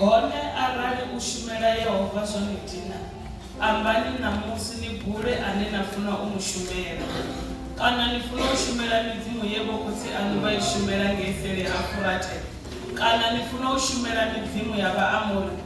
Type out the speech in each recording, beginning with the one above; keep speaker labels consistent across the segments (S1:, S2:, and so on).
S1: hone arali u shumela yehova zwo ni dina ambani ṋamusi ni bule ane na funa u mu shumela kana ni funa u shumela midzimu ye vhokhotsi aṋu vha i shumela ngei sele ha furate kana ni funa u shumela midzimu ya vhaamori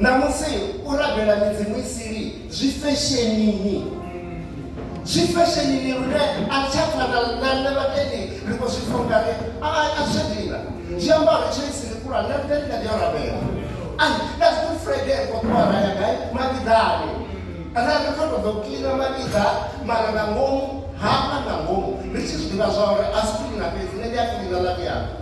S1: ṋamusi u rabela midzimu i sili zwi feshenini zwi feshenini lune a tsha fana na nṋe vhatendi ri khou zwi pfa ungari a tsha dina zwi amba uri tsho isili kura nṋe nṋe ndi kha ḓi yo rabela and that's good friday ri khou ṱuwa ra ya gai makiḓani kana ri khou tou ḓo kiḽina makiḓa mara na ngomu hafha na ngomu ri tshi zwi ḓivha zwa uri a si kiḽina fhedzi nṋe ndi a kiḽina ḽa miyanga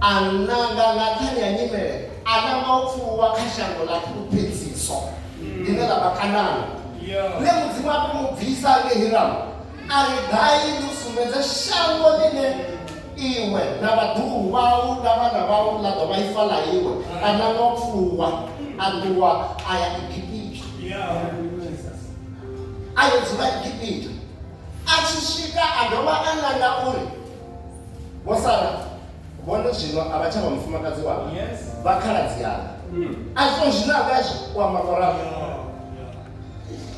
S1: A nanga nga nṱhani ha nyimele, a nanga u pfuluwa kha shango ḽa fhulufhedziso, ḽine ḽa vha Kanana. Lune Mudzimu a tou mu bvisa nge Hiramu a ri, Gai ndi u sumbedze shango ḽine iwe na vhaḓuhulu vhau na vhana vhau ḽa ḓo vha ifa ḽa iwe. A nanga u pfuluwa, a ṱuwa a ya Egipita. A yo dzula Egipita. A tshi swika a dovha a nanga uri, vho sala vhone zwino a vha tsha vha mufumakadzi wanga vha khaladzi yanga a zwo zwine a vha zwi kwamba koraho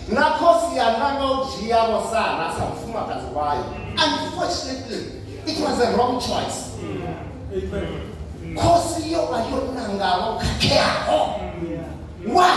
S1: na khosi yanga nga u dzhia vho sala sa mufumakadzi wayo unfortunately it was a wrong choice khosi yo vha yo nangaho khakheaho why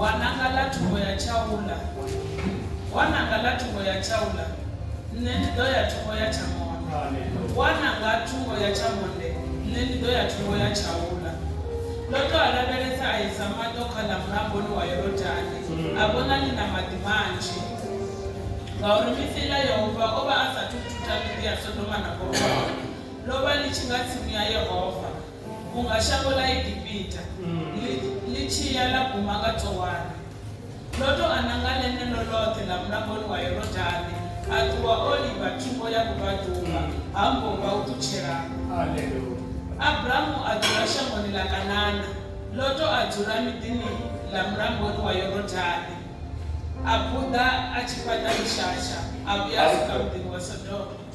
S1: Wa nanga ḽa thungo ya Tshaula, wa nanga ḽa thungo ya Tshaula, nṋe ndi ḓo ya thungo ya Tshamonde, wa nanga thungo ya Tshamonde, nṋe ndi ḓo ya thungo ya Tshaula. Loto a lavhelesa a isa maṱo kha ḽa mulamboni wa Yorodani, a vhona ḽi na maḓi manzhi, ngauri misi iḽa Yehova o vha a sa athu u thutha miḓi ya Sodoma na Gomora, ḽo vha ḽi tshi nga tsimu ya Yehova. Vhunga shango ḽa Egipita ḽi, ḽi tshi ya ḽa guma nga Tsoani, Loto a nanga ḽeneḽo ḽoṱhe ḽa mulamboni wa Yorodane, a ṱuwa o livha thungo ya vhubvaḓuvha ha mbomba u ṱutshela Aleluya. Abramu a dzula shangoni ḽa Kanana, Loto a dzula miḓini ḽa mulamboni wa Yorodane, a buḓa a tshi fhaṱa mishasha, a vhuya a swika muḓini wa Sodoma.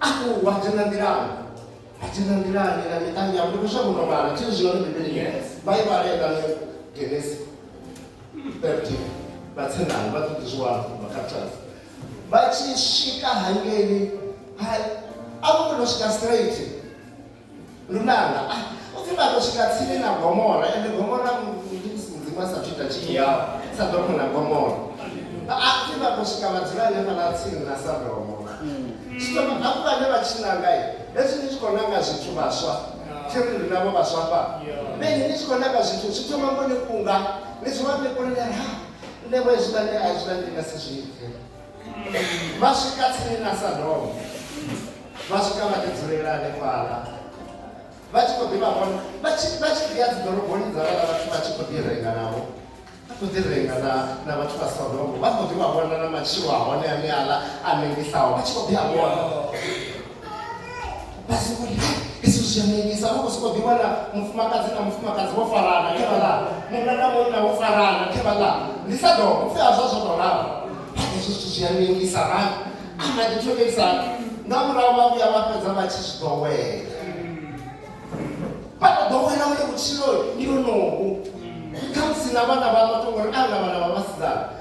S1: Aku wa thina nḓilani? Wa thina nḓilani na miṱa miyau? Ndi khou shavha u tou vhala thi zwi yone Bivhili ye vha i vhale nga Genesis 13 vha tsenani vha ṱoḓi zwi wana vha captures vha tshi swika hangeni ha a vho kona u swika straight lunanga ah, u pfi vha ḓo swika tsini na gomora ende gomora mudzimu a sathu ita tshithu yao sadomo na gomora a ah, pfi vha ḓo swika vha dzula hanefhaḽa tsini na sadomo zwino hafhu vhane vha tshi nanga hezwi ni tshi khou nanga zwithu vhaswa thiri ri navho vhaswa fha vheni ni tshi khou nanga zwithu zwi thoma ngo ni kunga ni zwi vha ni kunela ha nṋe vho hezwiḽani a hezwiḽani ndi nga si zwi ite vha swika tsini na sadomo vha swika vha ḓi dzulela hanefhala vha tshi khou ḓi vha vhona vha tshi vha tshi ḓi ya dzi ḓoroboni dza vhala vhathu vha tshi khou ḓi renga navho vha khou ḓi renga na na vhathu vha sodomo vha khou ḓi vha vhona na matshilo a hone ane aḽa a nengisaho vha tshi khou ḓi a vhona vha soko ri hezwi zwi a nekisa vha khou soko ḓi wana mufumakadzi na mufumakadzi vho farana khe vha ḽa munna na munna vho farana khe vha ḽa ndi sa ḓo pfhi hazwo zwo tou lala hezwo zwithu zwi a nekisa ra ana ḓi thomisa nga murahu vha vhuya vha fhedza vha tshi zwi ḓowela vha tou ḓowela uri vhutshilo ndi honohu khamusi na vhana vha vha to ngori a na vhana vha vhasidzana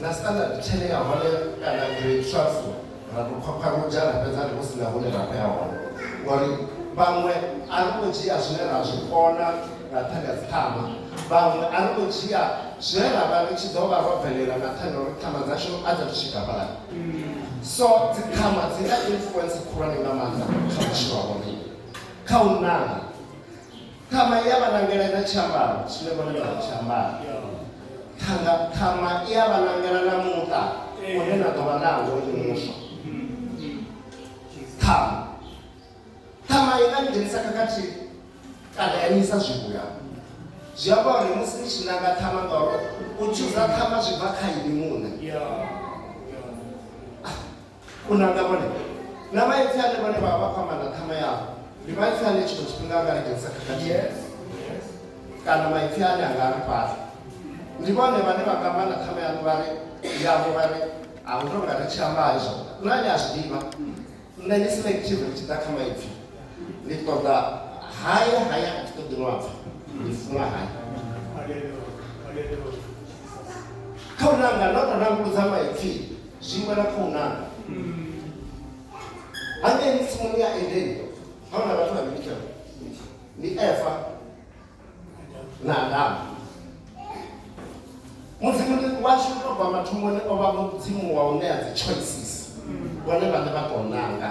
S1: Na standard ten ya hone kana grade twelve ra to khwakhwaruja ra fhedza ri hu sina hune ra khou ya hone ngori vhaṅwe a ri khou dzhia zwine ra zwi kona nga nṱhani ha dziṱhama vhaṅwe a ri khou dzhia zwine ra vha ri tshi ḓo vha ro bvelela nga nṱhani ha uri ṱhama dzashu a dza thu swika fhalani so dziṱhama dzi na influence khulwane nga maanḓa kha vhutshilo ha vhoriṋe kha u nanga Ṱhama i a vha nangela na tshiambaro tshine vhone vha tshi ambara. Ṱhanga ṱhama i a vha nangela na muṱa une na ḓo vha nawo ni muswa. Ṱhama ṱhama i nga ni dzhenisa khakhathi kana ya nisa zwivhuya. Zwi amba uri musi ni tshi nanga ṱhama ngauri u tshuza ṱhama zwi bva kha ini muṋe. Khonani na vhone na vha itsane vhane vha vha vha khou amba na ṱhama yavho ndi maipfiane tshiṅwe tshifhinga anga ri dzhenisa khakhathi kana maipfi ane anga ri fhaṱa ndi vhone vhane vha nga amba na ṱhama yanu vha ri yavho vha ri a hu tonga ri tshi amba izwo na ni a zwi ḓivha nṋe ndi selective ri tshi ḓa kha maipfi ndi ṱoḓa haya haya a thi ṱoḓi no apfa ndi funa haya kha u nanga ndo to nanguludza maipfi zwiṅwe na khou nanga hangei tsimuni ya edeni ha huna vhathu vhavhili tsha ndi efa na adamu mudzimu ndi washu to bva mathomoni o vha mudzimu wa u ṋea dzi choices vhone vhane vha tou nanga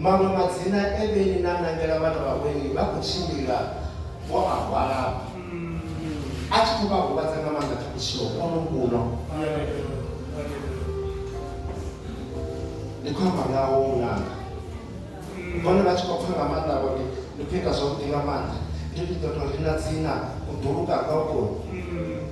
S1: Maṅwe madzina e Beni na nangela vhana vha Weni vha khou tshimbila vho a hwala a tshi khou vha huvhadza nga maanḓa kha vhutshilo hono huno. Ndi khou amba ngaho muṅanga vhone vha tshi khou pfa nga maanḓa vho ndi ndi khou ita zwavhuḓi nga maanḓa ndi ndi ḓo tou rina dzina u ḓuluka gokoni.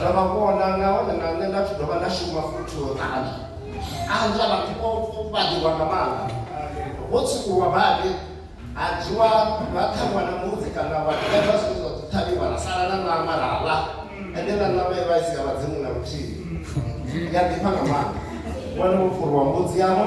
S1: Zwa vha konḓa nahone na nṋe nda tshi dovha nda shuma futhi u ṱanzwa. Ṱanzwa vhathu vho fhaṱiwa nga maanḓa, vho tswukulwa badi, ha dzhiwa ha ṱhavhiwa na mbudzi kana wa ṱhavha zwine zwa ḓo ṱhavhiwa ra sala na ṋama ra ḽa, ende na ṋama i vha i si ya vhadzimu na luthihi. Ndi a ḓifha nga maanḓa. Wana wo fhuriwa mbudzi yavho.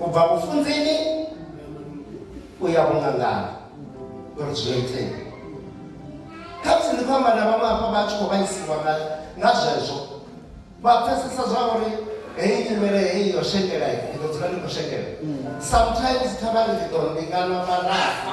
S1: u bva vhufunzini u ya vhungangani uri zwi itee kha musi ndi khou amba na vhaṅwe hafha vha tshi khou vhaisiwa nga zwezwo vha pfesesa zwa uri heyi nyimele heyi yo shengela i ḓo dzula ndi khou shengela sometimes kha vha ri ḓi ḓo mbingana vha rafa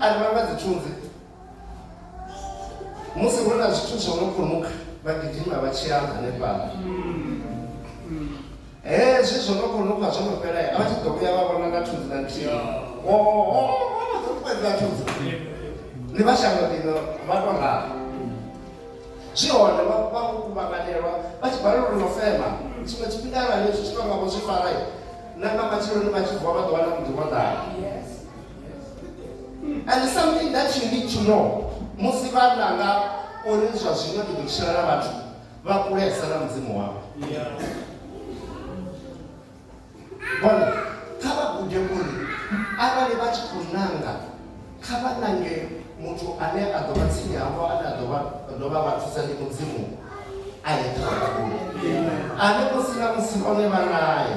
S1: a ri vha nga dzi tshunzi musi hu na zwithu zwo no khonukha vha gidima vha tshia hanefhala hezwi zwo no khonukha zwo no fhela a vha tshi ḓo vhuya vha vhona na thunzi na nthihi oṱuṱuwedza thunzi ndi vha shango ḽino vha to ralo zwi hone vha kuvhanganelwa vha tshi balelwa uri no fema tshiṅwe tshifhinga arali zwi tshi tonga vho zwi fara na nga matsheloni vha tshi vuwa vha ḓo wana muḓi wo ḓala and something that you need to know musi vhanna nga uri zwa zwino ndi ḓo tshila na vhathu vha kulesa na mudzimu wavho bona kha vha gude uri arali vha tshi khou nanga kha vha nange muthu ane a ḓo vha tsini havho ane a ḓo vha vha thusa ndi mudzimu a ye kha vha gude ane musi na musi vhone vha naye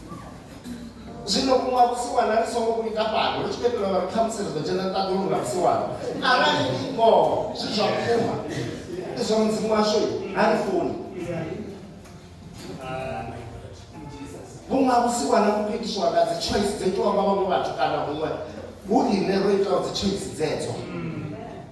S1: zwino vhuṅwa vhusiwana ri songo vhu ita fhano ri tshi khou itela uri khamusi ri ḓo dzhena ṱaḓulu nga vhusiwana arali ndi ngoho zwi zwa vhukuma ndi zwa mudzimu washu ha ri funi vhuṅwa vhusiwana vhu khou itiswa nga dzi choice dzo itiwa nga vhaṅwe vhathu kana huṅwe hu riṋe ro itaho dzi choice dzedzo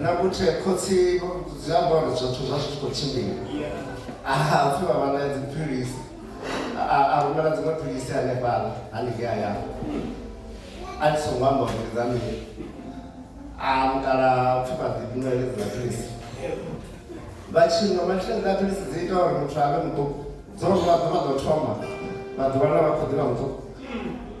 S1: na kuthe khotsi dzi amba uri zwithu zwa zwi tshi khou tshimbila aha pfhi vha vha na dziphilisi a rumela dziṅwe philisi hanefhala haningei hayani a thi songo amba uri ndi dza mini a mukala pfhi vha ḓi nwa heledzi na philisi vha tshi nwa mathilezi a philisi dzi ita uri muthu a vhe muṱuku dzo nwa ḓuvha ḓo thoma vha ḓiwana vha khou ḓivha muṱuku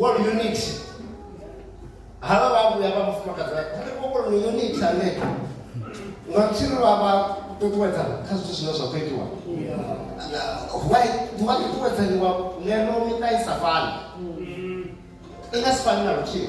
S1: wa unit havha vha vhuya vha mufumakadzi wa kha vho kona unit ane nga tshiri vha vha ṱuṱuwedza kha zwithu zwine zwa khou itiwa why vha ṱuṱuwedzaniwa ngeno miṱa i sa fani i nga si fani na luthihi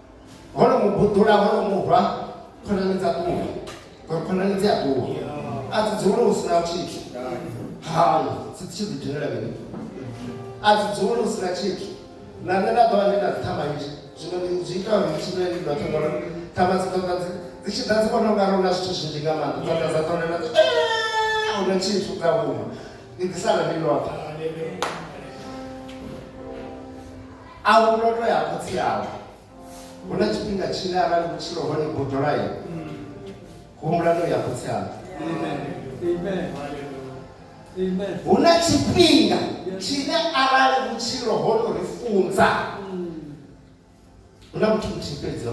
S1: ho no mu buḓula ho no mu rwa khonani dza ṱuwa ngori khonani dzi a ṱuwa a dzi dzule hu si na tshithu hai dzi tshi ḓi dinela mini a dzi dzule hu si na tshithu na nṋe nda ḓovha ndi na dzithama nzhi zwino ndi zwi ita uri tshine ndi ḓo thoma uri thama dzi ṱoḓa dzi dzi tshi ḓa dzi vhona u nga ri una zwithu zwinzhi nga maanḓa dza ḓa dza ṱolela una tshithu dza huma ndi ḓi sala ndi noṱhe a hu loto ya khotsi awe hu na tshifhinga tshine arali vhutshilo hone bodolayi humbula no ya khotsi awe hu na tshifhinga tshine arali vhutshilo hono ri funza hu na muthu muthihi fhedzi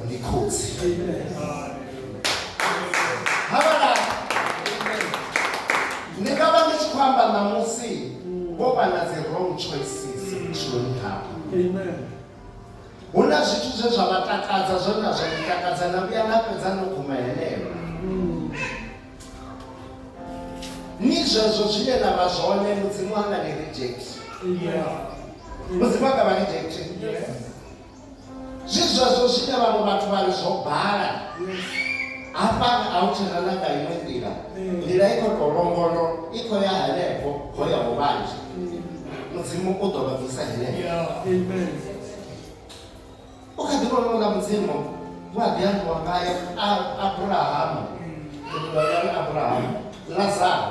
S1: ndi khotsi ni nga vha ndi tshi khou amba ṋamusi vho vha na dzi wrong choices vhutshiloni havho hu na zwithu zwe zwa vha takadza zwo na zwa takadza na vhuya na fhedza no guma heneyo ni zwezwo zwine na vha zwone mudzimu anga ni reject mudzimu anga vha reject zwi zwezwo zwine vhaṅwe vhathu vha ri zwo bala hafhani a hu tshena na nga iṅwe nḓila nḓila i khou tou longondo i khou ya henefho ho ya ho vhanzhi mudzimu u ḓo vha bvisa henefho u kha ḓi vhona uḽa mudzimu hu a ḓi ambiwa ngaye abrahamu abrahamu lazaro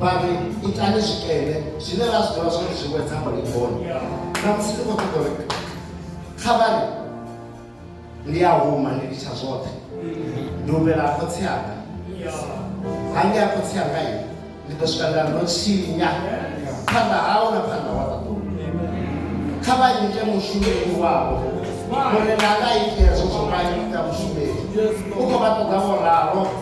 S1: vha ri itani zwikene zwine ra zwi ḓivha zwori zwi wedza mulingoni na musi ndi khou ṱoḓa uri kha vhari ndi a huma ndi litsha zwoṱhe ndi humela khotsi anga ha ndi a khotsi anga i ndi ḓo swika nda ndo tshinya phanḓa hau na phanḓa wa ṱaḓulu kha vha ite mushumeli wavho mune nanga ite zwo zwo vha ita mushumeli u khou vha ṱoḓa vho ralo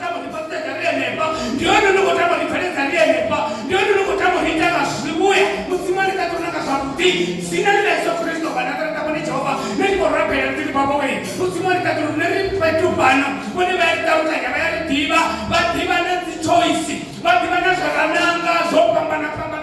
S1: tama uri pasi ḽa ri henefha ndi hone ni khou tama uri pfele dza ri henefha ndi hone ni khou tama uri ita nga zwivhuya mudzimu a ni ṱaḓa uri na nga zwavhuḓi dzina ḽi ḽa yesu kristo vhana ṱa ri tama uri jehova ni tshi khou rabela ri ḓi ri baba wei mudzimu a ni ṱaḓa uri ni ri fhethu fhano vhone vha ya ri ṱalukanya vha ya ri ḓivha vha ḓivha na dzi choice vha ḓivha na zwa rananga zwo fhambana fhambana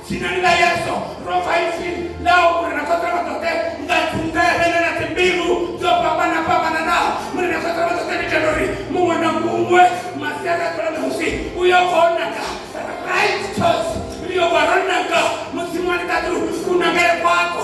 S1: Dzina ḽa Yesu ro pfa ipfi ḽa u uri ra khotela vha ḓoḓe nga dzungele na na dzimbilu dzo fhambana fhambananaho muri ra khotela vha ḓoḓe nitela uri muṅwe na muṅwe masiari a ḓola ṋamusi u yo bva o naka right choice ri yo bva ro naka mudzimu wa ni ṱaḓulu kunakele kwako